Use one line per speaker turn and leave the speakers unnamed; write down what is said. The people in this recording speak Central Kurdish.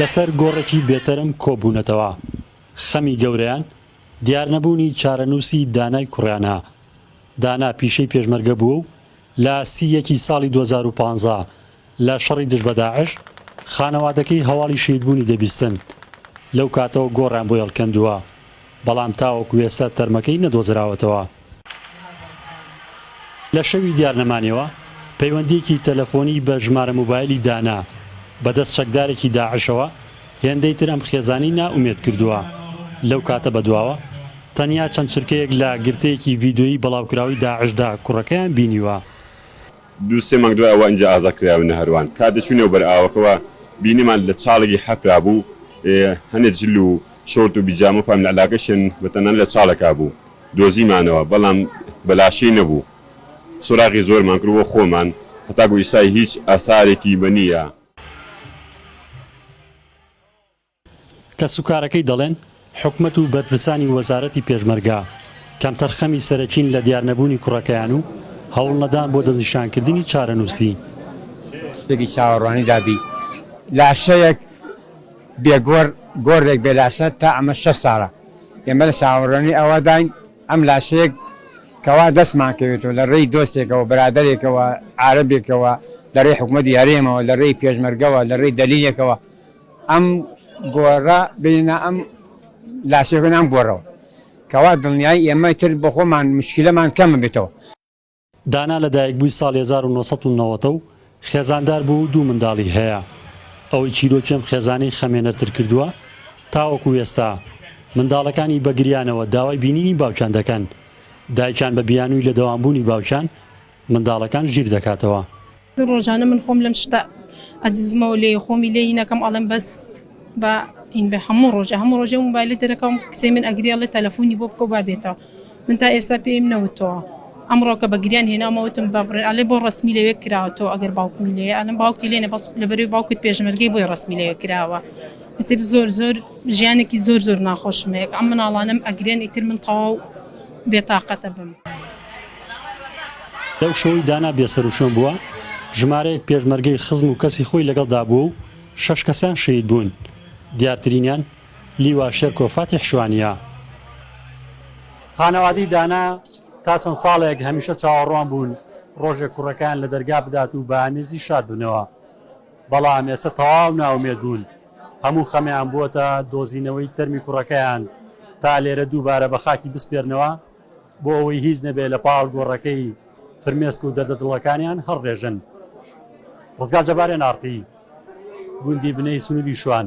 لەسەر گۆڕێکی بێتەرم کۆبوونەتەوە. خەمی گەورەیان دیارنەبوونی چارەنووسی دانای کوڕیانە. دانا پیشەی پێشمەرگە بووە و لە سی یەکی ساڵی دوو هەزار و پازدە لە شەڕی دژ بە داعش، خانەوادەکەی هەواڵی شەهیدبوونی دەبیستن. لەو کاتەوە گۆڕیان بۆی هەڵکەندووە، بەڵام تاوەکو ئێستا تەرمەکەی نەدۆزراوەتەوە. لە شەوی دیارنەمانیەوە پەیوەندییەکی تەلەفۆنی بە ژمارە موبایلی دانا بە دەست چەکدارێکی داعشەوە هێندەی تر ئەم خێزانی نا ئومێد کردووە لەو کاتە بەدواوە تەنیا چەند چرکەیەک لە گرتەیەکی ڤیدۆیی بڵاوکراوی داعشدا کوڕەکەیان بینیوە. دوو
سێ مانگ دوای ئەوە ئینجا ئازاد کراوین لە هەروان کات دەچووینەوە بەر ئاوەکەوە بینیمان لە چاڵێکی حەفرا بوو هەنێ جل و شۆرت و بیجامە و فاملە علاقەشیان بە تەنانە لە چاڵەکا بوو دۆزیمانەوە بەڵام بە لاشەی نەبوو سۆراغی زۆرمان کرد بۆ خۆمان هەتاکو ئیستا هیچ ئاسارێکی بە نییە.
کەسوکارەکەی دەڵێن حکومەت و بەرپرسانی وەزارەتی پێشمەرگە کەمتەرخەمی سەرەکین لە دیارنەبوونی کوڕەکەیان و هەوڵنەدان بۆ دەستنیشانکردنی چارەنووسی.
شتێکی چاوەڕوانی دابی لاشەیەک بێ گۆر، گۆرێک بێ لاشە تا ئەمە شەست ساڵە. ئێمە لە چاوەڕوانی ئەوەداین ئەم لاشەیەک کەوا دەستمان کەوێتەوە لە رێی دۆستێکەوە، برادەرێکەوە، عارەبێکەوە، لە رێی حکومەتی هەرێمەوە، لە رێی پێشمەرگەوە، لە رێی دەلیلێکەوە ئەم گۆڕە بێنە ئەم لاشەیەکە بێنە ئەم گۆڕەوە کەوا دڵنیایی ئێمە تر بۆ خۆمان موشکیلەمان کەم ببێتەوە. دانا
لەدایکبووی ساڵی هەزار و نۆ سەد و نەوەت و خێزاندار بووە و دوو منداڵی هەیە. ئەوەی چیرۆکی ئەم خێزانەی خەمێنەرتر کردووە، تاوەکو ئێستا منداڵەکانی بە گریانەوە داوای بینینی باوکیان دەکەن. دایکیان بە بیانووی لەدەوامبوونی باوکیان، منداڵەکان ژیر دەکاتەوە. ڕۆژانە من
خۆم لەم شتە ئەدزمەوە لێ خۆمی لێ هینەکەم ئەڵێم بەس بە ئین بە هەموو ڕۆژە هەموو ڕۆژێ موبایلی دەرەکەم کچێ من ئەگریێڵێ تەلەفۆنی بۆ بکە با بێتەوە من تا ئێستا پێم نەوتەوە ئەمڕۆکە بە گریان هێنامەوتم بە ئەلێ بۆ ڕسمی لەوێ کراوەەوە ئەگەر باوکمی لێ ئەلم باوکی لێنە بەس لەبەروی باوکت پێشمەرگەی بۆی ڕسمی لەوێ کراوە ئیتر زۆر زۆر ژیانێکی زۆر زۆر ناخۆشمەیەک ئەم مناڵانم ئەگرێن ئیتر من تەواو بێتاقەتە بم.
لەو شەوەی دانا بێسەروشوێن بووە، ژمارەیەک پێشمەرگەی خزم و کەسی خۆی لەگەڵدا بووە و شەش کەسیان شەهید بوون، دیارترینیان لیوا شێرکۆ فاتیح شوانییە. خانەوادەی دانا تا چەند ساڵێک هەمیشە چاوەڕوان بوون ڕۆژێک کوڕەکەیان لە دەرگا بدات و بە ئامێزی شاد بنەوە، بەڵام ئێستا تەواو نائومێد بوون، هەموو خەمیان بووەتە دۆزینەوەی تەرمی کوڕەکەیان تا لێرە دووبارە بە خاکی بسپێرنەوە، بۆ ئەوەی هیچ نەبێت لە پاڵ گۆڕەکەی فرمێسک و دەردە دڵەکانیان هەڵڕێژن. ڕزگار جەبارێن ئاڕتی گوندی بنەی سنووری شوان.